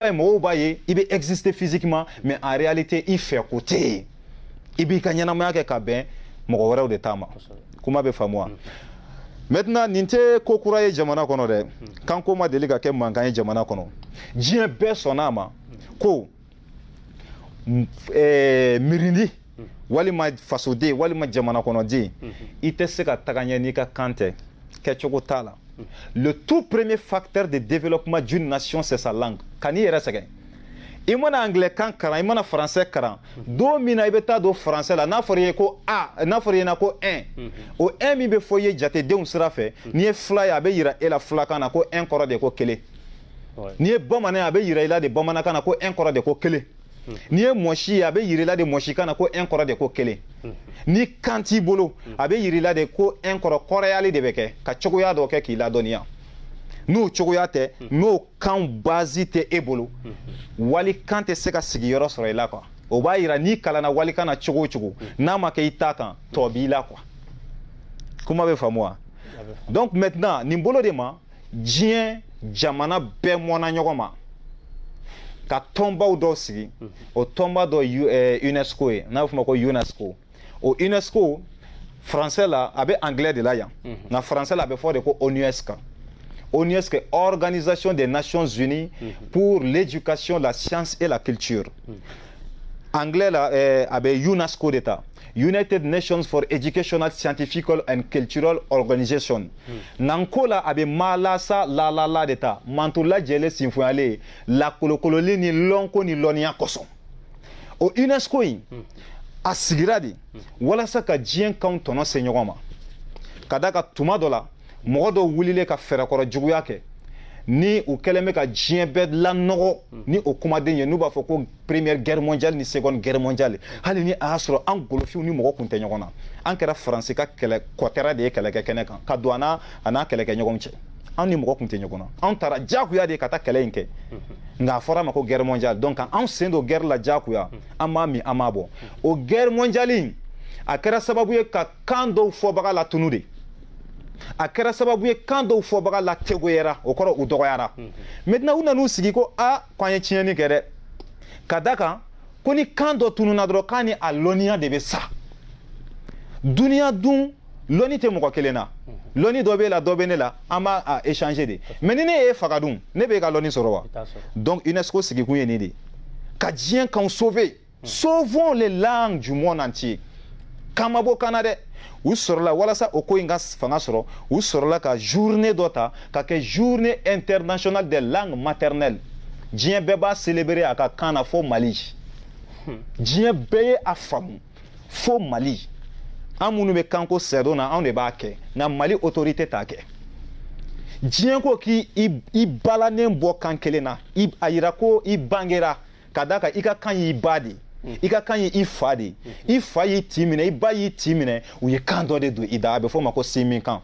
ye mɔgɔw b'a ye i bɛ exister physiquement mais en réalité i fɛ ko tɛ yen i b'i ka ɲɛnamaya kɛ ka bɛn mɔgɔ wɛrɛw de ta ma kuma bɛ faamu wa mm. maintenant nin tɛ ko kura ye jamana kɔnɔ dɛ mm. kanko ma deli ka kɛ mankan ye jamana kɔnɔ diɲɛ bɛɛ sɔnna a ma mm. ko eh, mirindi walima fasoden walima jamana kɔnɔden i tɛ se ka taga ɲɛ n'i ka kan tɛ kɛcogo t'a la le tout premier facteur de développement d'une nation c'est sa langue kan'i yɛrɛ sɛgɛn i mana anglais kan kalan i mana français kalan don min na i bɛ taa don français la n'a fɔra i ye ko a n'a fɔra i ɲɛna ko un o un min bɛ fɔ i ye jatedenw sira fɛ n'i ye fila ye a bɛ yira e la filakan na ko un kɔrɔ de ko kelen n'i ye bamanan ye a bɛ yira i la de bamanankan na ko un kɔrɔ de ko kelen n'i ye mɔsi ye a bɛ yir'i la de mɔsikan na ko un kɔrɔ de ko kelen ni kan t'i bolo a bɛ yir'i la de ko un kɔrɔ kɔrɔyali de bɛ kɛ ka cogoya dɔ kɛ k'i ladɔnniya n'o cogoya tɛ n'o kan bazi tɛ e bolo walikan tɛ se ka sigiyɔrɔ sɔrɔ i la quoi o b'a yira n'i kalanna walikan na cogo o cogo n'a ma kɛ i ta kan tɔ b'i la quoi kuma bɛ faamu wa donc maintenant nin bolo de ma diɲɛ jamana bɛɛ mɔna ɲɔgɔn ma ka tɔnbaw dɔw sigi mhm. o tɔnba dɔ eh, unesco ye n'a bɛ f'o ma ko unesco o unesco français la a bɛ anglais de la yan mhm. nka français la a bɛ fɔ de ko onusca onusc organisation des nations unies mhm. pour l'éducation la science et la culture anglais la eh, a bɛ unesco de ta United Nations for Educational, Scientifical and Cultural Organization. Hmm. Nko la a bɛ maalasa laalala de ta manton lajɛlen sinfonyalen ye lakolokololi ni lɔnko ni lɔnniya kosɔn. O UNESCO in hmm. a sigira de hmm. walasa ka diɲɛ kanw tɔnɔ se ɲɔgɔn ma ka d'a kan tuma dɔ la mɔgɔ dɔ wulilen ka fɛɛrɛkɔrɔ juguya kɛ ni u kɛlen bɛ ka diɲɛ bɛɛ lanɔgɔ ni o kumaden ye n'u b'a fɔ ko première guerre mondiale ni seconde guerre mondiale hali ni a y'a sɔrɔ an golofinw ni mɔgɔ kun tɛ ɲɔgɔn na an kɛra faransi ka kɛlɛ kɔtɛra de ye kɛlɛkɛ kɛnɛ kan ka don a n'a kɛlɛkɛɲɔgɔn cɛ an ni mɔgɔ kun tɛ ɲɔgɔn na anw taara diyagoya de ye ka taa kɛlɛ in kɛ nka a fɔra a ma ko guerre mondiale donc anw sen don guerre la diyagoya an m'a min an m'a bɔn o guerre mondiale in a kɛra sababu ye ka kan dɔw fɔbaga latunu de a kɛra sababu ye kan dɔw fɔbaga la tegoyara o kɔrɔ u dɔgɔyara maintenant u nan'u sigi ko a ko an ye tiɲɛni kɛ dɛ ka d'a kan ko ni kan dɔ tununa dɔrɔn k'a ni a lɔnniya de bɛ sa duniya dun lɔnni tɛ mɔgɔ kelen na lɔnni dɔ b'e la dɔ bɛ ne la an b'a échanger de mais ni ne y'e faga dun ne b'e ka lɔnni sɔrɔ wa donc UNESCO sigikun ye nin de ye ka diɲɛ kanw sauver hmm. sauvons les langues du monde entier kan ma bɔ kan na dɛ u sɔrɔla walasa o ko in ka fanga sɔrɔ u sɔrɔla ka journée dɔ ta ka kɛ journée internationale des langues maternelles diɲɛ bɛɛ b'a célébrer a ka kan na fo mali hmm. diɲɛ bɛɛ ye a faamu fo mali an minnu bɛ kanko sɛdon na anw de b'a kɛ nka mali autorité t'a kɛ diɲɛ ko k'i balanen bɔ kan kelen na a yira ko i bangera ka da kan i ka kan y'i ba de ye i ka kan ye i fa de ye i fa y'i tin minɛ i ba y'i tin minɛ u ye kan dɔ de don i da a bɛ fɔ o ma ko sinmin kan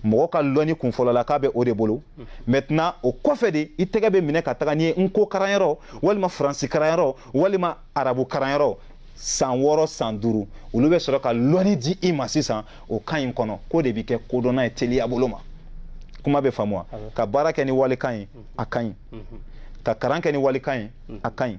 mɔgɔ ka lɔnni kunfɔlɔ la k'a bɛ o de bolo maintenant o kɔfɛ de i tɛgɛ bɛ minɛ ka taga n'i ye nko karanyɔrɔ walima faransi karanyɔrɔ walima arabu karanyɔrɔ san wɔɔrɔ san duuru olu bɛ sɔrɔ ka lɔnni di i ma sisan o kan in kɔnɔ k'o de bɛ kɛ kodɔnna ye teliya bolo ma kuma bɛ faamu wa ka baara kɛ ni walikan ye a ka ɲi ka kalan kɛ ni walikan ye a ka ɲi